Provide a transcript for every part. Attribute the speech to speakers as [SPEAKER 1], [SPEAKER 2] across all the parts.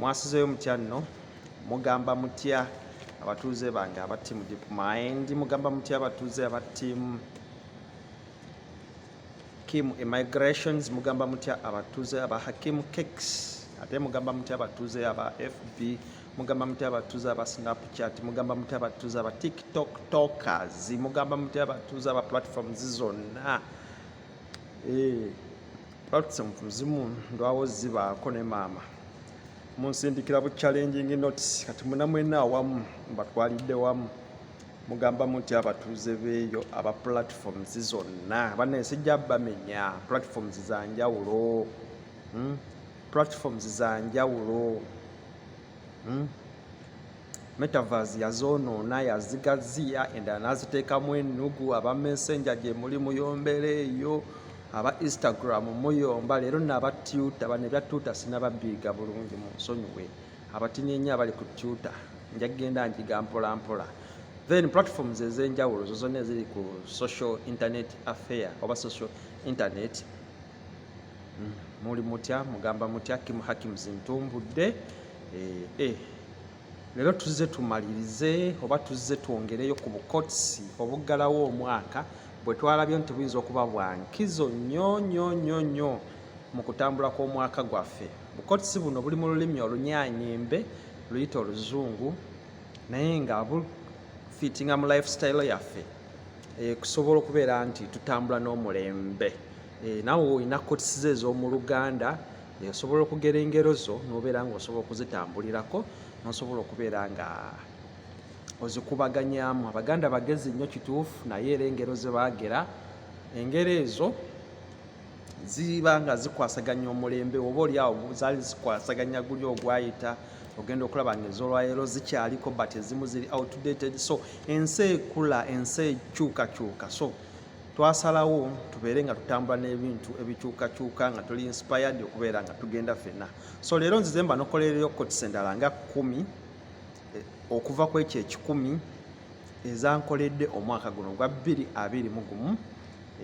[SPEAKER 1] mwasizeyo mutya nno mugamba mutya abatuuze bange aba tiimu deep mind mugamba mutya abatuuze aba tiimu kim immigrations mugamba mutya abatuuze aba hakim cakes ate mugamba mutya abatuuze aba fb mugamba mutya abatuuze aba snapchat mugamba mutya abatuuze aba tiktok tokers mugamba mutya abatuuze aba platforms zonna eh, Perhaps omuzimu ndwawo zibaako ne maama munsindikira bu challenging notes kati munamwena awamu mbatwalidde wamu mugamba muti abatuuze beeyo aba platforms zonna banaye sijja bamenya platforms za njawulo hmm? platforms za njawulo hmm? Metaverse yazoonoona yazigaziya endala n'aziteekamu ennugu aba messenger gye muli muyombera eyo aba instagram muyomba leero naba tuta bano ebya tuta sinababiiga bulungi mu nsonyiwe abatinyenye abali ku tuta nja kugenda njiga mpolampola then platforms ez'enjawulo zo zonna eziri ku social internet affair oba social internet Mm, muli mutya mugamba mutya Kim Hakims ntumbudde eh, eh. Lero tuzze tumalirize oba tuzze twongereyo ku bukotsi obuggalawo omwaka bwe twalabye nti buyinza okuba bwa nkizo nnyo nnyo nnyo nnyo mu kutambula kw'omwaka gwaffe bukotsi buno buli mu lulimi olunyanyimbe luyita oluzungu naye nga bufitinga mu lifestyle yaffe eh, kusobola okubeera nti tutambula n'omulembe Eh, nawe olina kotisiza ez'omu luganda osobola okugera engero zo nobeera nga osobola okuzitambulirako nosobola okubeera nga ozikubaganyamu abaganda bagezi nnyo kituufu naye era engero zebagera engero ezo ziba nga zikwasaganya omulembe oba oliawo zaali zikwasaganya guli ogwayita ogenda okulaba nga ezolwayero zikyaliko but ezimu ziri outdated so ensi ekula ensi ekyukakyuka so twasalawo tubeere nga tutambula n'ebintu ebikyukakyuka nga tuli inspired okubeera nga tugenda fenna so leero nzize mba nokolereyo kotisa endala nga kumi eh, okuva ku ekyo ekikumi ezankoledde omwaka guno ogwa bbiri abiri mu gumu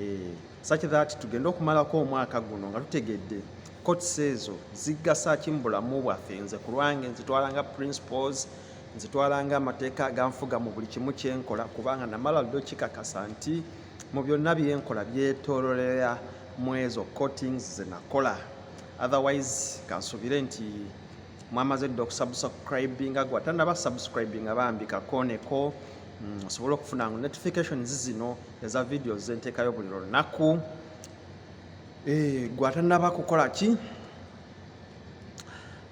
[SPEAKER 1] eh, such that tugende okumalako omwaka guno nga tutegedde kotisa ezo zigasa ki mu bulamu bwaffe nze ku lwange nzitwala nga principles nzitwala ng'amateeka ganfuga mu buli kimu kye nkola kubanga namala ddi okikakasa nti mu byonna bye nkola byetoololera mu ezo coatings ze nakola otherwise kansubire nti mwamaze dda okusubscribinga gwe atanaba subscribinga bambi kakooneko mm, osobole okufuna ngo notifications zino eza videos zenteekayo buli lunaku eh, gwe atanaba kukola ki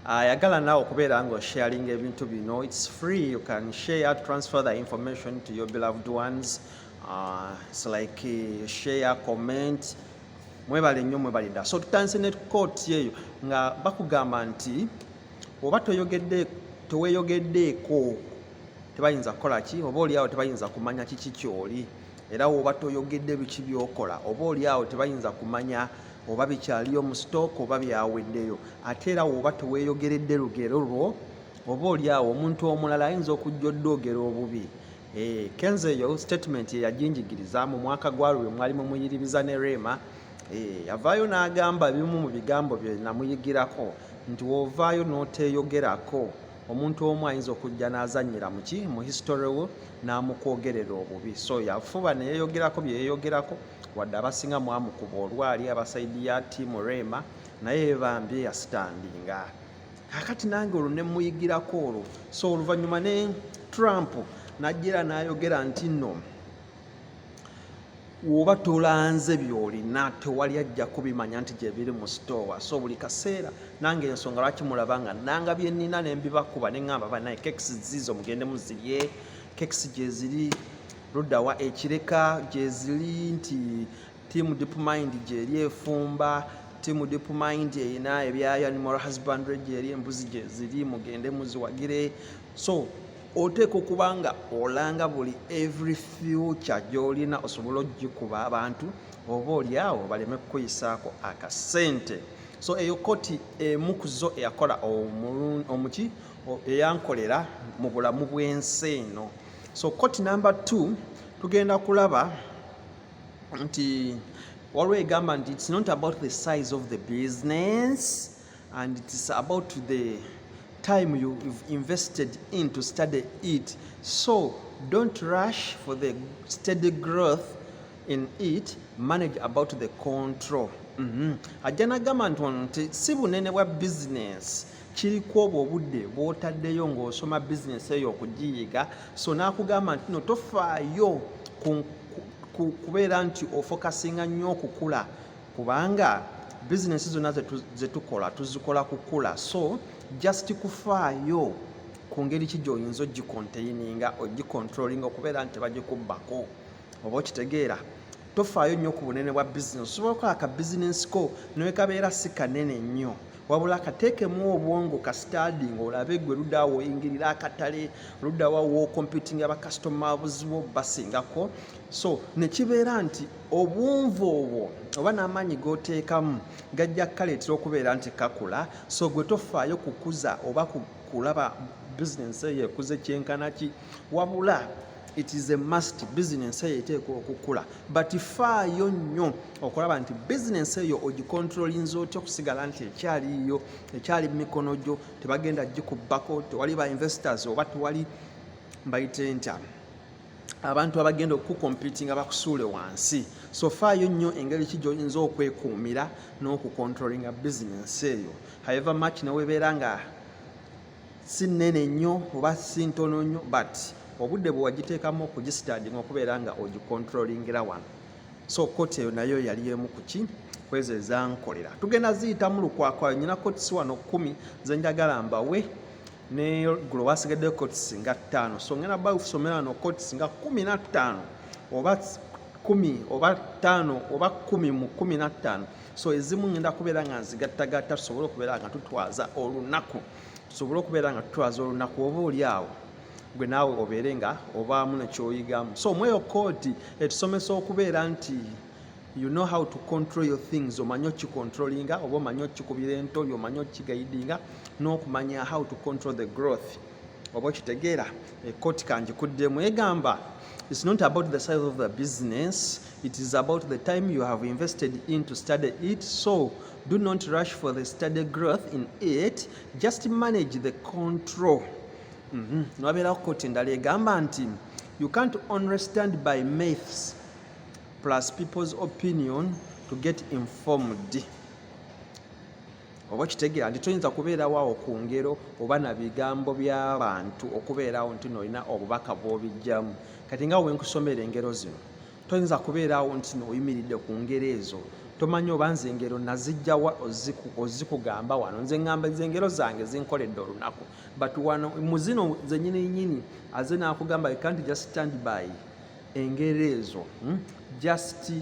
[SPEAKER 1] ayagala nawe okubeera nga osharing ebintu bino its free you can share transfer the information to your beloved ones uh, it's like uh, share comment mwebale nnyo mwebale ddala so tutandise ne kooti eyo nga bakugamba nti oba toyogedde teweyogeddeeko tebayinza kukola ki oba oliawo tebayinza kumanya kiki kyoli era woba toyogedde biki byokola oba oli awo tebayinza kumanya oba bikyaliyo mu stock oba byaweddeyo ate era woba teweyogeredde lugero lwo oba oli awo omuntu omulala ayinza okujja oddoogera obubi eh, kenzo eyo statement yeyajinjigiriza mu mwaka gwa lwe mwali mumuyiribiza ne reema eh, yavaayo n'agamba bimu mu bigambo bye namuyigirako nti wovaayo n'oteyogerako omuntu omu ayinza okujja n'azannyira muki mu history wo n'amukwogerera obubi so yafuba neyeyogerako byeyeyogerako wadde abasinga mwamukuba olwali abasaidi ya tiamu rema naye bambi yasitandinga kakati nange olwo nemuyigirako olwo so oluvannyuma ne trump najjera nayogera nti no woba tolanze byolina tewali ajja kubimanya nti gyebiri mu sitoowa so buli kaseera nange ensonga lwaki mulaba nga nanga byenina nembibakuba neŋamba banaye kekisi ziizo mugende muzirye kekisi gyeziri ludawa ekireka gyeziri nti tiamu dipmind gyeri efumba tiamu dipmind erina ebyayo animal husbandry gyeri embuzi gyeziri mugende muziwagire so oteeka okuba nga olanga buli every future gyolina osobola ogikuba abantu oba olyawo baleme kukuyisaako akasente so eyo koti emu kuzo eyakola omuki eyankolera mu bulamu bwensi eno so koti number t tugenda kulaba nti waliwo egamba nti its not about the size of the business and it's about the time you, you've invested in to study it so don't rush for the steady growth in it manage about the control mm -hmm. ajja nagamba nti ono nti si bunene bwa business kiriku obwo obudde bwotaddeyo ng'osoma business eyo okugiyiga so n'akugamba nti no tofaayo kubeera nti ofokasinga nnyo okukula kubanga bizinesi zonna zetukola tuzikola kukula so just kufaayo ku ngeri ki gyoyinza ogikonteininga ogikontrolinga okubeera nti tebagikubbako oba okitegeera tofaayo nnyo ku bunene bwa bizinesi osobola okukola ka bizinesi ko newekabeera si kanene nnyo wabula kateekemu obwongo ka stadi nga olabe gwe luddawa woyingirira akatale luddawa wokomputinga bakasitoma buzibu obasingako so nekibeera nti obwonvu obwo oba n'amaanyi g'oteekamu gajja kukaleetera okubeera nti kakula so gwe tofaayo kukuza oba kulaba bizinensi eyo ekuze kyenkana ki wabula it is a must bizinensi eyo eteekwa okukula but faayo nnyo okulaba nti bizinensi eyo ogikontrolinza otya okusigala nti ekyaliiyo ekyali mu mikono gyo tebagenda gikubbako tewali ba investors oba tewali mbayite ntya abantu abagenda okukukompitinga bakusuule wansi so faayo nnyo engeri ki gyoyinza okwekuumira n'okukontrolinga bizinensi eyo haeva mach newebeera nga si nnene nnyo oba si ntono nnyo but obudde bwewagiteekamu okugistandinga okubeera nga ogikontrolingira wano so koti eyo nayo yali emu kuki kwezo ezankolera tugenda ziyitamu lukwakwayo nyina kotisi wano kumi zenjagala mbawe ne gulo wasigaddeyo cots nga ttaano so ngenda bba kusomera wano cots nga kumi na ttaano oba kumi oba ttaano oba kumi mu kumi na ttaano so ezimu ngenda kubeera nga nzigattagatta tusobole okubeera nga tutwaza olunaku tusobole okubeera nga tutwaza olunaku oba oli awo gwe naawe obeere nga obaamu nekyoyigamu so omweyo kooti etusomesa okubeera nti you know how to control your things omanyi okicontrolinga oba omanyi okikubira entobi omanyi okigaidinga n'okumanya how to control the growth oba okitegeera ekkooti kangikuddemu egamba it's not about the size of the business it is about the time you have invested in to study it so do not rush for the study growth in it just manage the control mm -hmm. nowabeerawo kkooti endala egamba nti you can't understand by maths plus people's opinion to get informed oba kitegeera nti toyinza kubeerawo awo ku ngero oba na bigambo by'abantu okubeerawo nti noolina obubaka bw'obijjamu kati nga wenkusomera engero zino toyinza kubeerawo nti nooyimiridde ku ngero ezo tomanyi oba nze engero nazijjawa ozikugamba wano nze ngamba nze engero zange zinkoledde olunaku but wano muzino zenyininyini aze nakugamba you can't just stand by engeri ezo hmm? just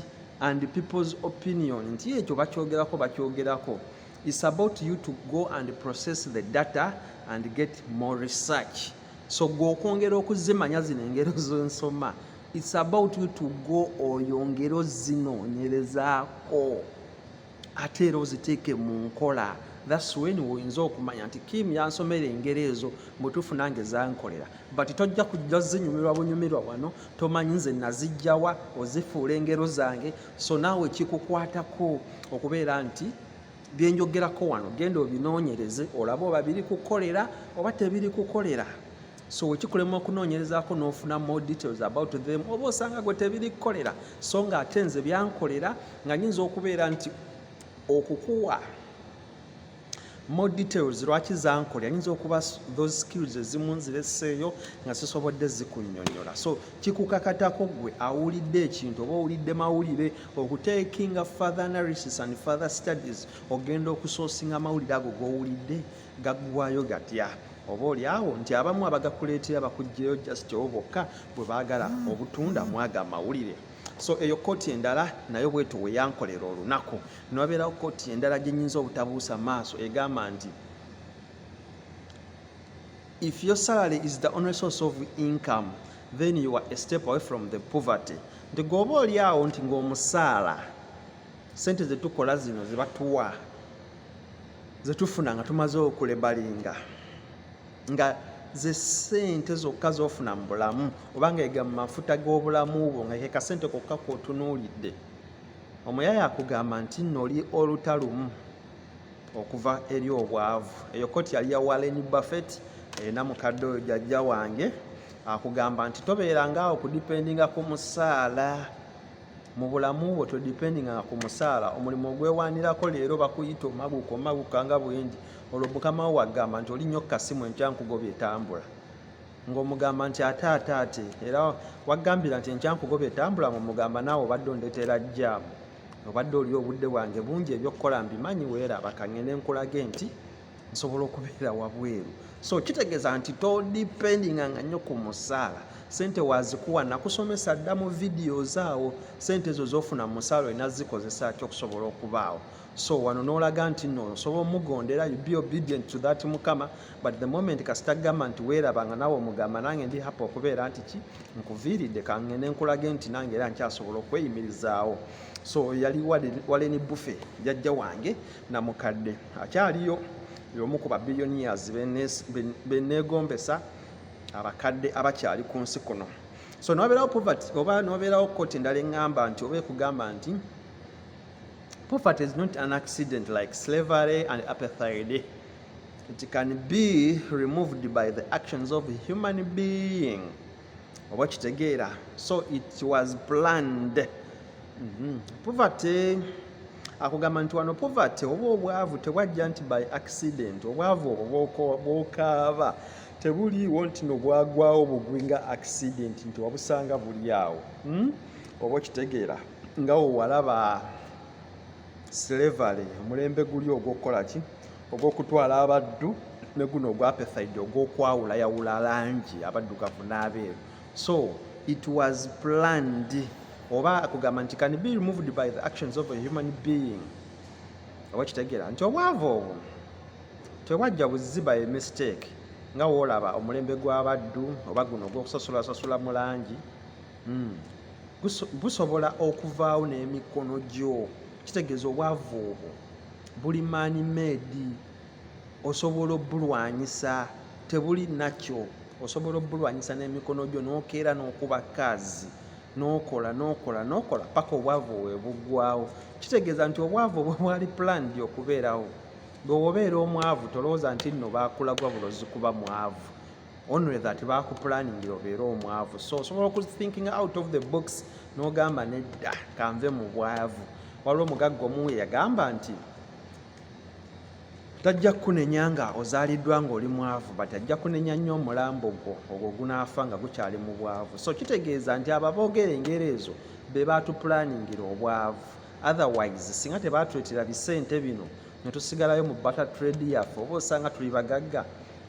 [SPEAKER 1] and people's opinion nti ekyo bakyogerako bakyogerako is about you to go and process the data and get more research so gwe okwongera okuzimanya zino engero zensoma it's about you to go oyongere ozinoonyerezaako ate era oziteeke mu nkola thats wen woyinza okumanya nti kim yansomera engeri ezo mutuufu nange zankolera but tojja kujja zinyumirwa bunyumirwa wano tomanyi nze nazijjawa ozifuula engero zange so naawe kikukwatako okubeera nti byenjogerako wano genda obinoonyereze olabe oba biri kukolera oba tebiri kukolera so wekikulema okunoonyerezaako n'ofuna more details about them oba osanga gwe tebiri kukolera so nga ate nze byankolera nga nyinza okubeera nti okukuwa more details lwaki zankolera nyinza okuba those skills ezimu nzireseeyo nga sisobodde zikunyonyola so kikukakatako gwe awulidde ekintu oba owulidde mawulire okutekinga father analysis and father studies ogenda okusoosinga amawulire ago gowulidde gaggwayo gatya oba olyawo nti abamu abagakuleetera bakuggyeyo just obo bokka bwe baagala obutunda mwaga amawulire so eyo kooti endala nayo bwetu weyankolera olunaku newabeerawo kooti endala gyenyinza obutabuusa maaso egamba nti if your salary is the only source of income then you are a step away from the poverty nti gwoba olyawo nti ngaomusaala sente zetukola zino zebatuwa zetufuna nga tumaze okulebalinga nga ze sente zokka zofuna mu bulamu obanga ega mu mafuta g'obulamu bwo nga keka sente kokka kwotunuulidde omuyaya akugamba nti noli oluta lumu okuva eri obwavu eyo koti yali ya walen buffet erina mukadde oyo jajja wange akugamba nti tobeerangaawo kudipendinga ku musaala mu bulamu bwo todipendinganga ku musaala omulimu ogwewanirako leero bakuyita omaguka omaguka nga bwengi olwo mukama wo wagamba nti oli nyo kukasimu enkya nkugobye tambula ngaomugamba nti ate ate ate era wagambira nti enkya nkugobye tambula ngaomugamba naawe obadde ondetera jjaamu obadde oli obudde bwange bungi ebyokukola mbimanyi weera bakangende nkulaga enti nsobola okubeera wabweru so kitegeeza nti todipendinga nga nnyo ku musaala sente wazikuwa nakusomesa dda mu videos awo sente ezo zofuna mu musaala olina zikozesa ki okusobola okubaawo so wano nolaga nti no osobola omugondera you be obedient to that mukama but the moment kasita gamba nti weeraba nga nawe omugamba nange ndi hapa okubeera nti ki nkuviiridde kangende nkulage nti nange era nkyasobola okweyimirizaawo so yali waleni bufe jajja wange namukadde akyaliyo y'omu ku babilionias beneegombesa abakadde abakyali ku nsi kuno so nobeerawo poverty oba nobeerawo koti endala eŋŋamba nti oba ekugamba nti poverty is not an accident like slavery and apethide it can be removed by the actions of a human being oba kitegeera so it was planned mm -hmm. poverty akugamba nti wano poverty oba obwavu tebwajja nti by accident obwavu obwo bwokaaba tebuliiwo nti nobwagwawo bugwi nga accident nti wabusanga buli awo hmm? oba okitegeera nga wewalaba slavery omulembe guli ogwokukola ki ogw'okutwala abaddu ne guno ogwapethaid ogw'okwawula yawula langi abaddugavu n'abeeru so it was planned oba kugamba nti can be removed by the actions of a human being oba kitegeera nti obwavu obwo tebwajja buzzi by mistake nga woolaba omulembe gw'abaddu oba guno ogw'okusasulasasula mu langi hmm. gusobola okuvaawo n'emikono gyo kitegeeza obwavu obwo buli man made osobola obulwanyisa tebuli nakyo osobola obulwanyisa n'emikono gyo nokeera nokuba kaazi nokola nokola nokola paka obwavu webugwawo kitegeeza nti obwavu obwo bwali planned okubeerawo bwewobeera omwavu tolowooza nti nno bakulagwa bulozi kuba mwavu only that bakupulaningira obeera omwavu so osobola okuthinking out of the box n'ogamba nedda kanve mu bwavu waliwo omugagga omu yagamba nti tajja kukunenya nga ozaaliddwa ng'oli mwavu but ajja kunenya nnyo omulambo gwo ogwo gunaafa nga gukyali mu bwavu so kitegeeza nti abo aboogera engero ezo be baatupulaningira obwavu otherwise singa tebaatuletera bisente bino ne tusigalayo mu bata trade yaffe oba osanga tuli bagagga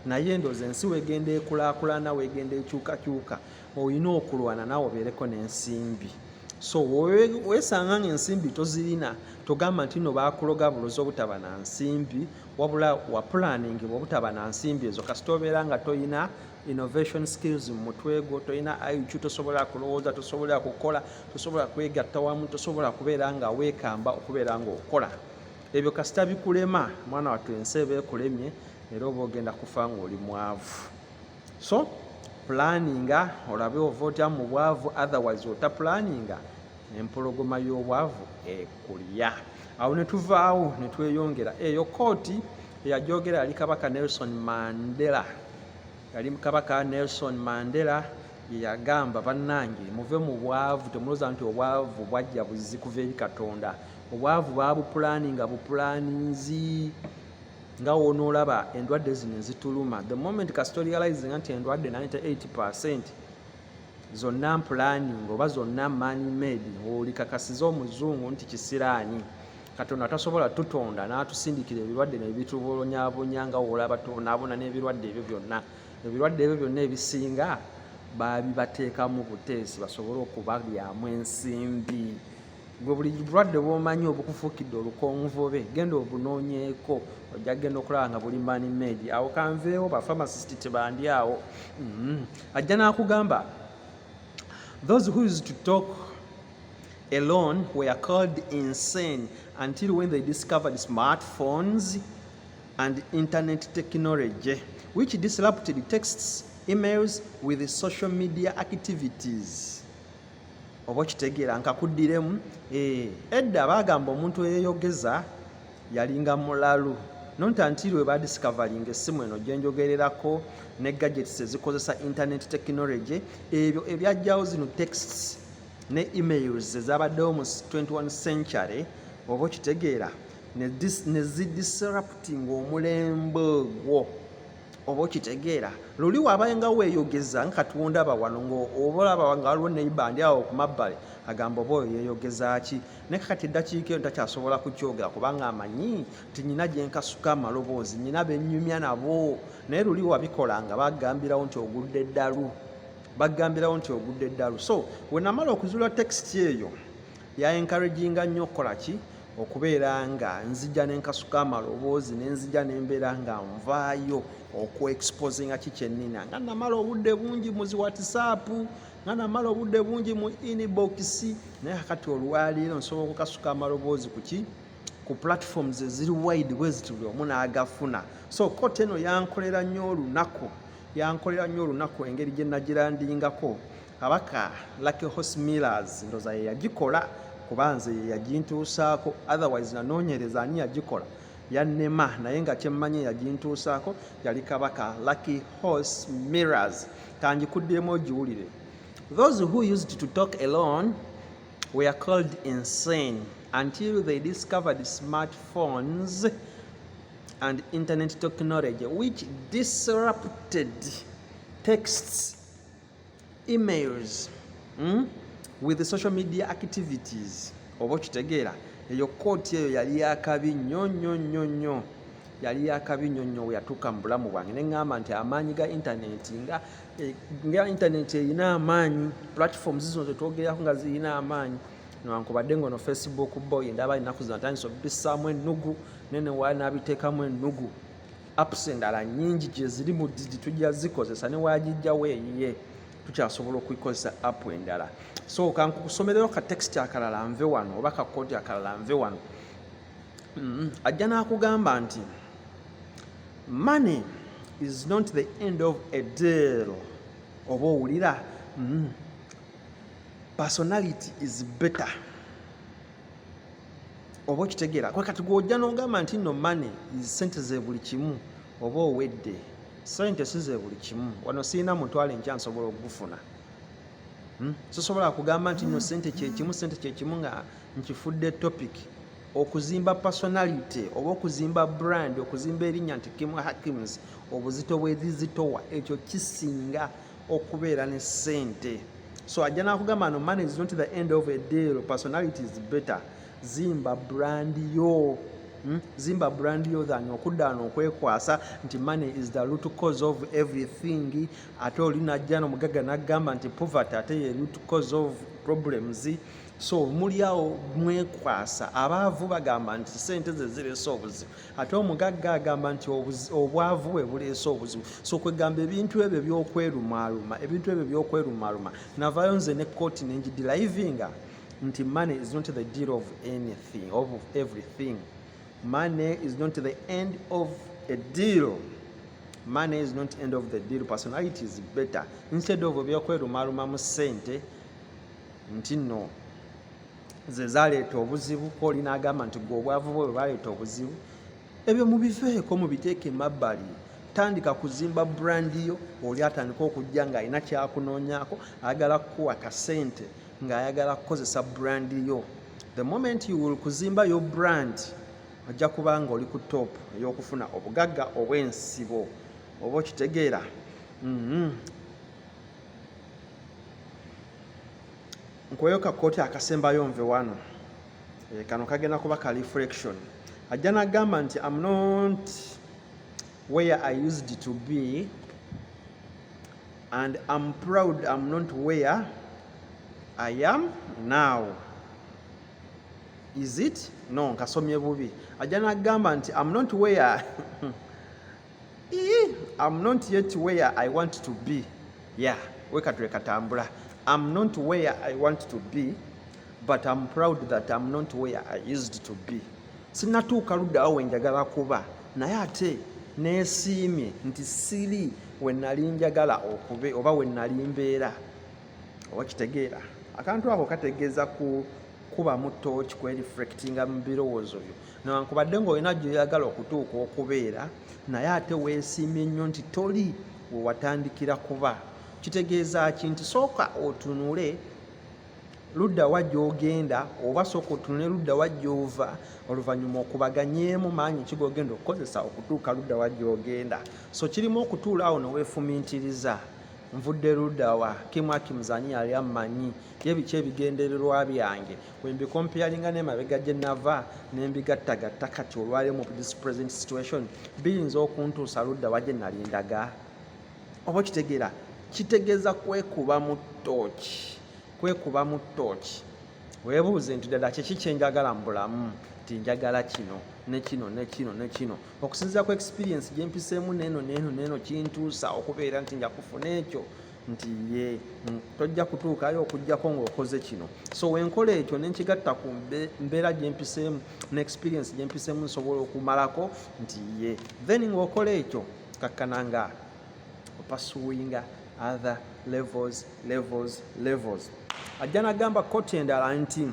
[SPEAKER 1] naye ndoza ensi wegenda ekulakulana wegenda ekyukakyuka olina okulwana nawe obeereko n'ensimbi so wesanga nga ensimbi tozirina togamba nti no bakuloga bulozi obutaba na nsimbi wabula wapulaningibwa obutaba na nsimbi ezo kasita obeera nga tolina innovation skills mu mutwe gwo tolina iq tosobola kulowooza tosobola kukola tosobola kwegatta wamu tosobola kubeera nga weekamba okubeera nga okola ebyo kasita bikulema mwana wattu ensi eba ekulemye era oba ogenda kufa ng'oli mwavu so pulaninga olabe ova otya mu bwavu otherwise otapulaninga empologoma y'obwavu ekulya awo ne tuvaawo ne tweyongera eyo kooti eyajogera yali kabaka nelson mandela yali kabaka nelson mandela yeyagamba bannange muve mu bwavu temuloza nti obwavu bwajja buzzi kuva eri katonda obwavu baabupulaninga bupulaninzi nga wonoolaba endwadde zino ezituluma the moment kasita orealizinga nti endwadde 98 percent zonna mpulaning oba zonna money made olikakasiza omuzungu nti kisiraani katonda tasobola tutonda n'atusindikira ebirwadde nebitubulonyabunya nga woolaba tubonaabona n'ebirwadde ebyo byonna ebirwadde ebyo byonna ebisinga babibateekamu buteesi basobole okubalyamu ensimbi gwe buli bulwadde bwomanyi obukufuukidde olukonvubobe genda obunoonyeeko ojja kugenda okulaba nga buli mani medi awo kanveewo bafamacist tebandi awo mm-hmm. ajja n'akugamba those who is to talk alone were called insane until when they discovered smartphones and internet technology which disrupted texts emails with social media activities oba okitegeera nkakuddiremu eh, edda baagamba omuntu eyeyogeza yalinga mulalu nonta ntiiri we badiscavalinga essimu eno gye njogererako ne gadgets ezikozesa internet technology ebyo ebyajjawo zino texts ne emails ezabaddewo mu 21 century oba okitegeera ne zidisruptinga omulembe ogwo oba okitegeera luli wabaenga weyogeza nga kati wondaba wano ngaoba olaba nga waliwo neiba ndi awo kumabbale agamba oba oyo yeyogeza ki naye kakati eddakiika eno takyasobola kukyogera kubanga amanyi nti nyina gyenkasuka amaloboozi nyina benyumya nabo naye luli wabikola nga bagambirawo nti ogudde eddalu bagambirawo nti ogudde eddalu so wenamala okuzula tekisiti eyo ya encouraginga nnyo okukola ki okubeera nga nzija nenkasuka amaloboozi nenzija nembeera nga nvaayo okuexposinga ki kyenina nga namala obudde bungi muzi whatsapp nga namala obudde bungi mu inbox naye akati olwaleero nsobola okukasuka amaloboozi kuki ku platforms eziri wide bweziti buli omu naagafuna so kota eno yankolera nnyo olunaku yankolera nnyo olunaku engeri gye nagilandingako Kabaka Lucky Horse Millers ndoza ye yagikola kuba nze ye yagintuusaako otherwise nanoonyereza ani yagikola yannema naye nga kyemmanyi yagintuusaako yali kabaka Lucky Horse Millers kangikuddemu ogiwulire those who used to talk alone were called insane until they discovered smartphones and internet technology which disrupted texts emails mm? with the social media activities oba okitegeera eyo kooti eyo yali yakabi nnyo nnyo nnyo nnyo yali yakabi nnyo nnyo weyatuuka mu bulamu bwange ne ŋŋamba nti amaanyi ga intaneti nga eh, nga intaneti erina amaanyi platforms zino zetwogerako nga zirina amaanyi newankubadde ngaono facebook boy ndaba ennaku zino atandisa obisaamu ennugu nene waali nabiteekamu ennugu apps endala nyingi gyeziri mu digi tujja zikozesa newagijjawo eyiye tukyasobola okukozesa app endala so kankusomerero ka text akalala nve wano oba ka kodi akalala nve wano mm-hmm. ajja nakugamba nti money is not the end of a deal oba owulira mm-hmm. personality is better oba okitegeera kwe kati gwojja n'ogamba nti no mane sente ze buli kimu oba owedde sente si ze buli kimu wano sirina mutwalo enkya nsobola okugufuna hmm? sisobola kugamba nti no sente kyekimu sente kyekimu nga nkifudde topic okuzimba personality oba okuzimba brand okuzimba erinnya nti kimu hakims obuzito bwezizitowa ekyo kisinga okubeera ne sente so ajja nakugamba no money is not the end of a deal personality is better zimba brand yo Hmm? zimba brand yo than okuddaano okwekwasa nti money is the root cause of everything ate oli najja nomugagga nagamba nti poverty ate ye root cause of problems so muli awo mwekwasa abaavu bagamba nti sente ze ziresa obuzibu ate omugagga agamba nti obwavu bwe buleese obuzibu so kwegamba ebintu ebyo byokwerumaaluma ebintu ebyo byokwerumaaluma navayo nze ne kooti nengidilayivinga nti money is not the deal of anything of everything money is not the end of a deal money is not end of the deal personality is better instead of byokwerumaaluma mu sente nti no ze zaleeta obuzibu kooli n'agamba nti gwe obwavu bwe bwe baleeta obuzibu ebyo mubiveeko mubiteeke emabbali tandika kuzimba brandi yo oli atandika okujja ng'alina kyakunoonyaako ayagala kukuwa kasente ng'ayagala kukozesa brandi yo the moment you will kuzimba yo brand ojja kuba nga oli ku top ey'okufuna obugagga obw'ensibo oba okitegeera mm-hmm. nkoyo ka kooti akasembayo nve wano eh, kano kagenda kuba ka reflection ajja nagamba nti am not where i used to be and am proud am not where i am now is it no nkasomye bubi ajja nagamba nti am not where I'm not yet where I want to be. Yeah, weka tuleka tambula. I'm not where I want to be, but I'm proud that I'm not where I used to be. Sinatuuka luddawo we njagala kuba, naye ate neesiimye nti siri we nali njagala okube oba we nali mbeera. oba kitegeera akantu ako kategeeza ku kubamu tooki kwereflectinga mu birowoozo byo newankubadde ngaolina gyoyagala okutuuka okubeera naye ate weesiimye nnyo nti toli wewatandikira kuba kitegeeza ki nti sooka otunule ludda wa gyogenda oba sooka otunule ludda wa gyova oluvannyuma okubaganyeemu maanyi ki gogenda okukozesa okutuuka ludda wa gyogenda so kirimu okutuula awo neweefumintiriza nvudde ludawa kimu akimuzanyi yali ammanyi ye biki ebigendererwa byange wembikompeyalinga nemabega gye nava nembigattagatta kati olwalio mu this present situation biyinza okuntuusa ludawa gye nali ndaga oba okitegeera kitegeeza kwekuba mu tooki kwekuba mu tooki webuuze nti ddala kiki kyenjagala mu bulamu tinjagala kino nekino nekino nekino okusinzira ku experience gyempiseemu neeno neeno neeno kintuusa okubeera nti njakufuna ekyo nti ye tojja kutuukayo okugjako ngaokoze kino so wenkola ekyo nenkigatta ku mbeera gyempiseemu ne experience gyempiseemu nsobola okumalako nti ye then ngaokola ekyo kakkana nga opasuwinga other levels levels levels ajja nagamba koti endala nti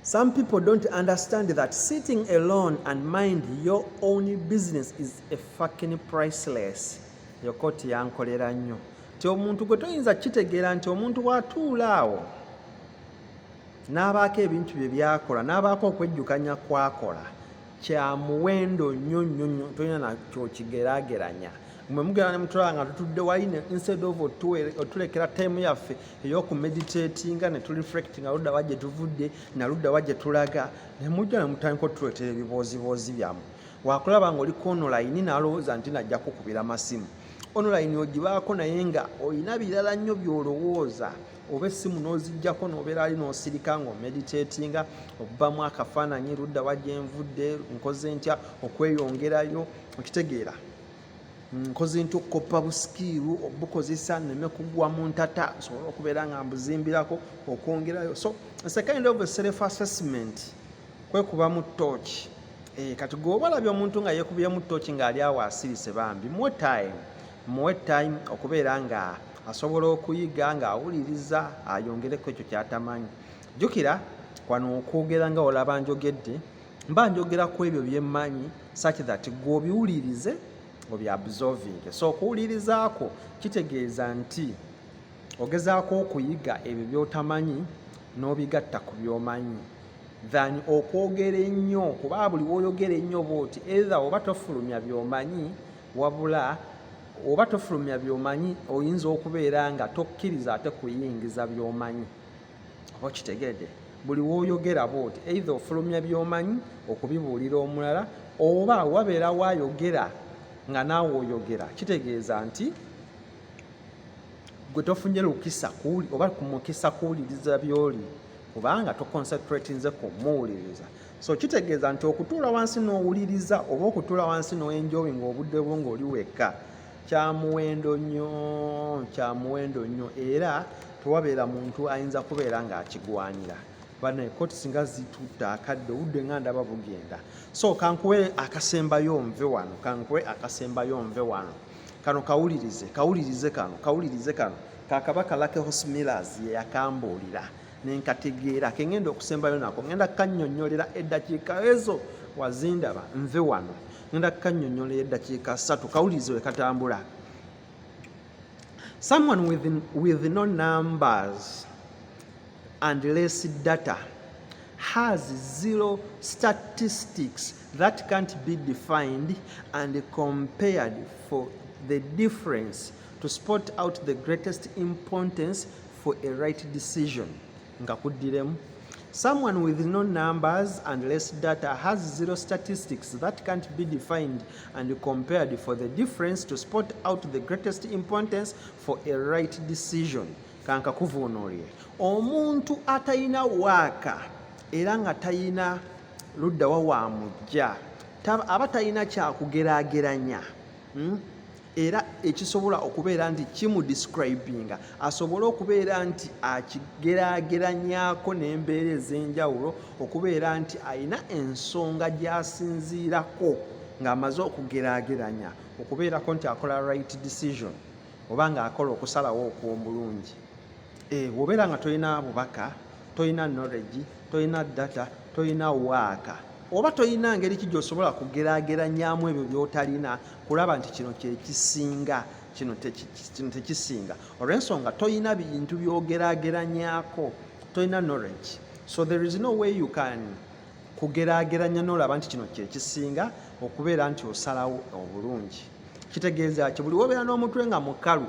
[SPEAKER 1] Some people don't understand that sitting alone and mind your own business is a fucking priceless. Yokoti yankolera nnyo nti omuntu gwe toyinza kitegeera nti omuntu watuula awo n'abaako ebintu bye byakola n'abaako okwejjukanya kwakola kya muwendo nnyo nnyo nnyo tolina nakyokigerageranya mwe mugera ne mutulaba nga tutudde wali instead of otulekera time yaffe eyokumeditatinga ne tureflectinga ludda wa gye tuvudde na ludda wa gye tulaga ne mujja ne mutandika otuleetera ebibooziboozi byammwe wakulaba nga oli konolayini nalowooza nti najja kukubira masimu onolayini ogibaako naye nga olina birala nnyo byolowooza oba essimu n'ozijjako n'obeera ali n'osirika nga omeditatinga okubamu akafaananyi ludda wa gye nvudde nkoze ntya okweyongerayo okitegeera nkoze ntya okukoppa busikiiru obukozesa neme kugwa mu ntata nsobole okubeera nga mbuzimbirako okwongerayo so sekind of self assessment kwekubamu tooki eh, kati gweoba olabye omuntu nga yekubyemu tooki ng'ali awo asirise bambi muwe time muwe time okubeera nga asobola okuyiga ng'awuliriza ayongereko ekyo kyatamanyi jjukira wano okwogera nga olaba njogedde mba njogera ku ebyo byemmanyi such that gwe obiwulirize obyabsolving so okuwulirizaako kitegeeza nti ogezaako okuyiga ebyo byotamanyi n'obigatta ku byomanyi than okwogera ennyo kuba buli woyogera ennyo bwoti either oba tofulumya byomanyi wabula oba tofulumya byomanyi oyinza okubeera nga tokkiriza ate kuyingiza byomanyi oba okitegedde buli woyogera bwoti eitha ofulumya byomanyi okubibuulira omulala oba wabeera wayogera nga naawe oyogera kitegeeza nti gwe tofunye lukisa oba kumukisa kuwuliriza byoli kubanga toconcentratinze kumuwuliriza so kitegeeza nti okutuula wansi n'owuliriza oba okutuula wansi n'oenjoyi ng'obudde bwo ng'oli wekka kyamuwendo nnyo kyamuwendo nnyo era tewabeera muntu ayinza kubeera ng'akigwanira banaye koti singa zitutta akadde obudde nga ndaba bugenda so kankuwe akasembayo nve wano kankuwe akasembayo nve wano kano kawulirize kawulirize kano kawulirize kano kakaba kalake hosmillas yeyakambuulira nenkategeera ke ngenda okusembayo nako ngenda kanyonyolera eddakiika ezo wazindaba nve wano ngenda kanyonyolera eddakiika satu kawulirize we katambula someone with, with no numbers and less data has zero statistics that can't be defined and compared for the difference to spot out the greatest importance for a right decision nga kuddiremu Someone with no numbers and less data has zero statistics that can't be defined and compared for the difference to spot out the greatest importance for a right decision. Kanka kuvunulie. Omuntu atayina waka era nga tayina ludda wa wa mujja. Aba tayina kya kugerageranya. Hmm? era ekisobola okubeera nti kimu describinga asobole okubeera nti akigerageranyako n'embeera ez'enjawulo okubeera nti alina ensonga gy'asinziirako ng'amaze okugerageranya okubeerako nti akola right decision oba ng'akola okusalawo okw'omulungi Eh, wobeera nga tolina bubaka tolina knowledge tolina data tolina waaka oba tolina ngeri ki gyosobola kugerageranyamu ebyo byotalina kulaba nti kino kyekisinga kino tekisinga olwensonga tolina bintu byogerageranyako tolina knowledge so there is no way you can kugerageranya nolaba nti kino kyekisinga okubeera nti osalawo obulungi kitegeeza ki buli wobeera n'omutwe nga mukalu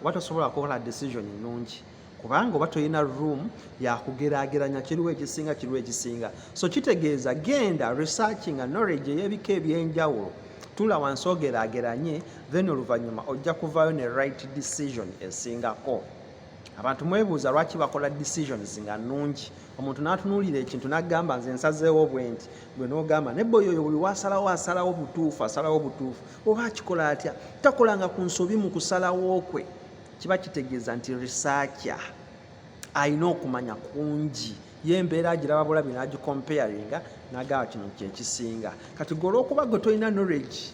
[SPEAKER 1] oba tosobola kukola decision nnungi kubanga oba tolina room yakugeraageranya kiriwo ekisinga kiriwo ekisinga so kitegeeza genda research nga knowledge ey'ebika ebyenjawulo tula wansi ogeraageranye then oluvannyuma ojja kuvaayo ne right decision esingako abantu mwebuuza lwaki bakola decisions nga nnungi omuntu n'atunuulira ekintu n'agamba nze nsazeewo bwenti gwe nogamba naye boyo oyo buli wasalawo asalawo butuufu asalawo butuufu oba akikola atya takolanga ku nsobi mu kusalawo kwe kiba kitegeeza nti risakya alina okumanya kungi ye embeera agiraba bulabi nagicomparinga nagaba kino kyekisinga kati gwe olwokuba gwe tolina knowledge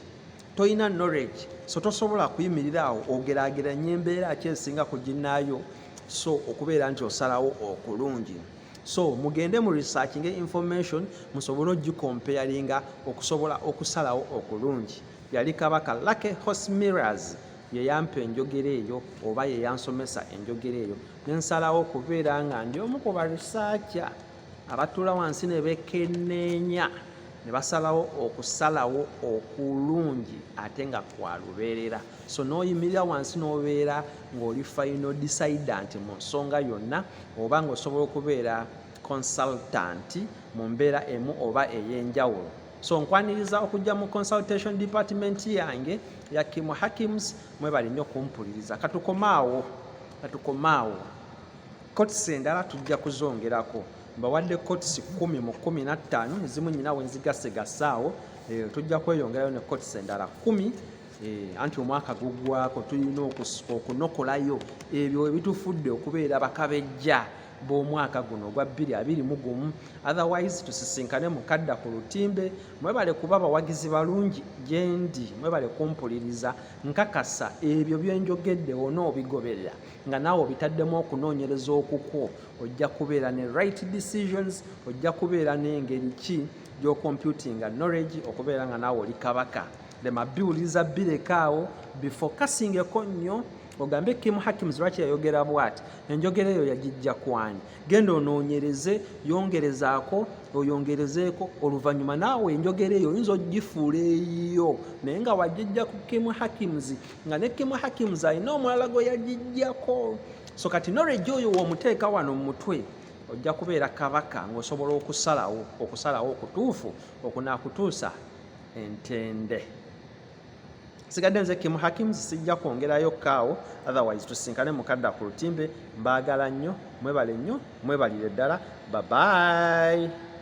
[SPEAKER 1] tolina knowledge so tosobola kuyimirira awo ogerageranya embeera kyesinga ku ginaayo so okubeera nti osalawo okulungi so mugende mu researchinge information musobole ogikompeyaringa okusobola okusalawo okulungi yali kabaka lake hosmiras yeyampa enjogera eyo oba yeyansomesa enjogera eyo nensalawo okubeera nga ndi omu ku barisaaca abatula wansi ne bekenneenya ne basalawo okusalawo okulungi ate nga kwalubeerera so n'oyimirira wansi n'obeera ng'oli fayino disaidant mu nsonga yonna oba ng'osobola okubeera consultant mu mbeera emu oba ey'enjawulo so nkwaniriza okujja mu consultation department yange ya kimu hakims mwebali nnyo kumpuliriza katukomaawo katukomaawo kotisi endala tujja kuzongerako mbawadde kotisi kumi mu kumi nattaano ezimu nyina wenzigasegasaawo eh, tujja kweyongerayo ne kotisi endala kumi Eh, anti omwaka guggwako tulina okusika okunokolayo ebyo ebitufudde okubeera bakabejja b'omwaka guno ogwa 221 otherwise tusisinkane mukadda ku lutimbe mwebale kuba abawagizi balungi gyendi mwebale kumpuliriza nkakasa ebyo byenjogedde onoobigoberera nga naawe obitaddemu okunoonyereza okukwo ojja kubeera ne right decisions ojja kubeera n'engeri ki gy'okompyutinga knowledge okubeera nga naawe oli kabaka lema biwuliriza bireka awo bifokasingeko nnyo ogambe kim hakims lwaki yayogera bwati enjogera eyo yagijja kwani genda onoonyereze yongerezaako oyongerezeeko oluvannyuma naawe enjogera eyo oyinza ogifuula eyiyo naye nga wagijja ku kim hakims nga ne kim hakims alina omulala gwe yagijjako so kati noregi oyo womuteeka wano mu mutwe ojja kubeera kabaka ng'osobola okusalawo okusalawo okutuufu okunakutuusa entende sigadde nze kimu hakim sijja kwongerayo kaawo otherwise tusinkane mukadda ku lutimbe mbaagala nnyo mwebale nnyo mwebalire ddala babayi